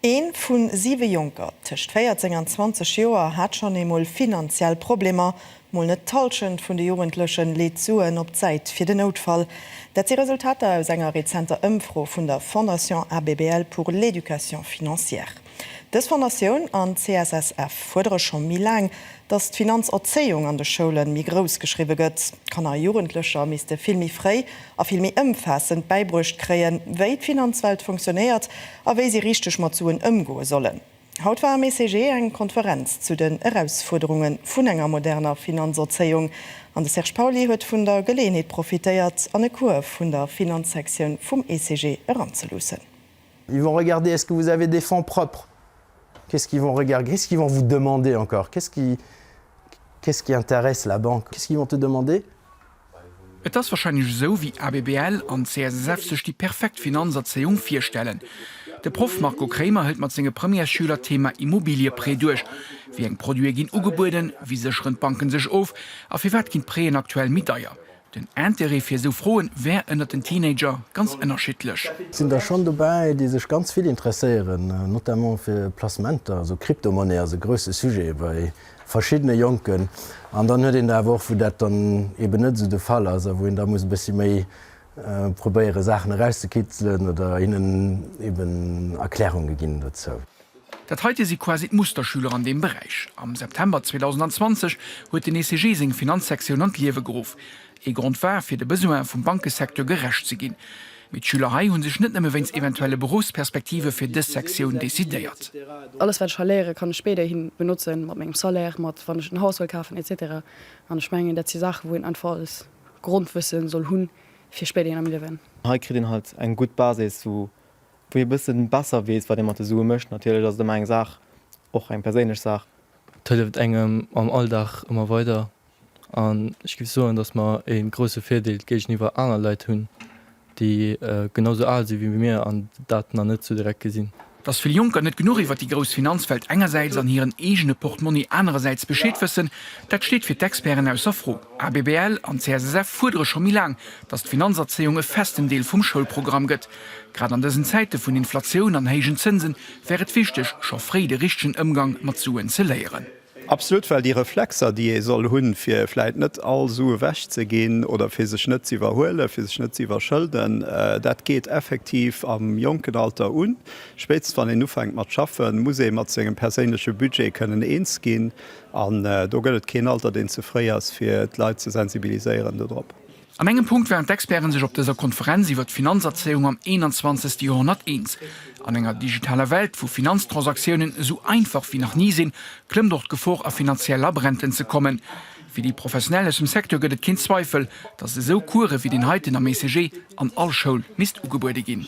Een vu siwe Jonker tëscht 14 an 20 Joer hat schonn eemol finanziell Problemer. Mol net d'Hallschent vun de Jugendlechen leet Suen op d'Säit fir den Noutfall. Dat si Resultater aus enger rezenter Ëmfro vun der Fondation ABBL pour l'Education Financière. Dës Fondatioun an d'CSSF fuerdere scho méi laang, datt d'Finanzerzéiung an de Schoule méi grouss geschriwwe gëtt. Kanner a Jugendlecher misste vill méi fréi a vill méi ëmfaassend bäibruecht kréien, wéi d'Finanzwelt funktionéiert a wéi si richteg mat Suen ëmgoe sollen. Haut war am ECG eng Konferenz zu den Erausfuerderunge vun enger moderner Finanzerzéiung an de Serge Pauly huet vun der Geleeënheet profitéiert an e Cours vun der Finanzsektioun vum ECG eranzeluussen. Ils vont regarder est-ce que vous avez des fonds propres? Qu'est-ce qu'ils vont regarder? Qu'est-ce qu'ils vont vous demander encore? Qu'est-ce qui, qu'est-ce qui intéresse la banque? Qu'est-ce qu'ils vont te demander? Et ass wahrscheinlech esou, wéi ABBL an CSSF sech déi perfekt Finanzerzéiung virstellen. De Proff Marco Kremer hëlt mat senge Premièresschüler d'Thema Immobilieprêt duerch. Wéi eng Produite ginn ugebueden, wéi sécheren d'Banken sech of a firwat ginn d'Prêten aktuell méi deier? Den Interêt fir esou Froen wär ënnert den Teenager ganz ënnerschiddlech. Et sinn der schonn dobäi, déi sech ganz vill interesséieren, notamment fir Placementer, esou Kryptomonnaie ass e grousse Sujet bei verschiddene Jonken. An dann huet een der awer och, wou dat dann eeben net esou de Fall ass a wou een da muss e bëssi méi probéiere Saachen erauszekitzelen oder hinnen eeben Erklärunge ginn dozou. Dat heite si quasi d'Musterschüler an deem Beräich. Am September 2020 huet den ECG seng Finanzsektioun an d'Liewe geruff. Ee Grond war, fir de Besoin vum Bankesecteur gerecht ze ginn. Mee d'Schüler hei hu sech net nëmme wéinst eventuelle Beruffsperspektive fir dës Sektioun decidéiert. Alles, wat ech hei léieren, kann ech spéiderhi benotzen, mat mengem Salaire, mat wann ech en Haus wëll kafen, etc. An ech mengen, dat si Saachen, wou een einfach als Grondwëssen soll hunn, fir spéiderhin am Liewen. Hei kritt een halt eng gutt Basis, wou ee e bësse besser weess, wat ee mat de Sue mécht. Natierlech ass et ëmmer eng Saach, och eng perséinlech Saach. Et hëlleft engem am Alldag ëmmer weider. An ech giff soen, dass mer ee grousse Virdeel géigeniwwer aner Leit hunn, déi genau sou al si wéi mir an dat nach net sou direkt gesinn. Dass vill Jonker net genuch iwwer déi grouss Finanzwelt engersäits an hiren eegene Portmonni anerersäits Bescheed wëssen, dat steet fir d'Experten ausser Fro. Asbl an CSSF fuerdere scho méi laang, dass d'Finanzerzéiung e festen Deel vum Schoulprogramm gëtt. Grad an dësen Zäite vun Inflatioun an héijen Zënse wär et wichteg, scho fréi de richtegen Ëmgang mat Suen ze léieren. Absolut, well déi Reflexer, déi ee soll hunn, fir vläit net all Su ewech ze ginn oder fir sech net ze iwwerhuelen, fir sech net ze iwwerschëlden, dat geet effektiv am jonken Alter un. Spéitstens wann een ufänkt mat schaffen, muss ee mat sengem perséinleche Budget kënnen eens ginn. An do gëtt et keen Alter, deen ze fréi ass, fir d'Leit ze sensibiliséieren dodrop. An engem Punkt waren d'Experte sech op dëser Konferenz iwwer d'Finanzerzéiung am 21. Joerhonnert eens, An enger digitaler Welt, wou Finanztransaktiounen esou einfach wéi nach ni sinn, klëmmt och d'Gefor a finanziell Labränten ze kommen. Fir déi Professionell aus dem Secteur gëtt et keen Zweifel, datt esou Course wéi deen heiten am ECG an all Schoul misst ugebuede ginn.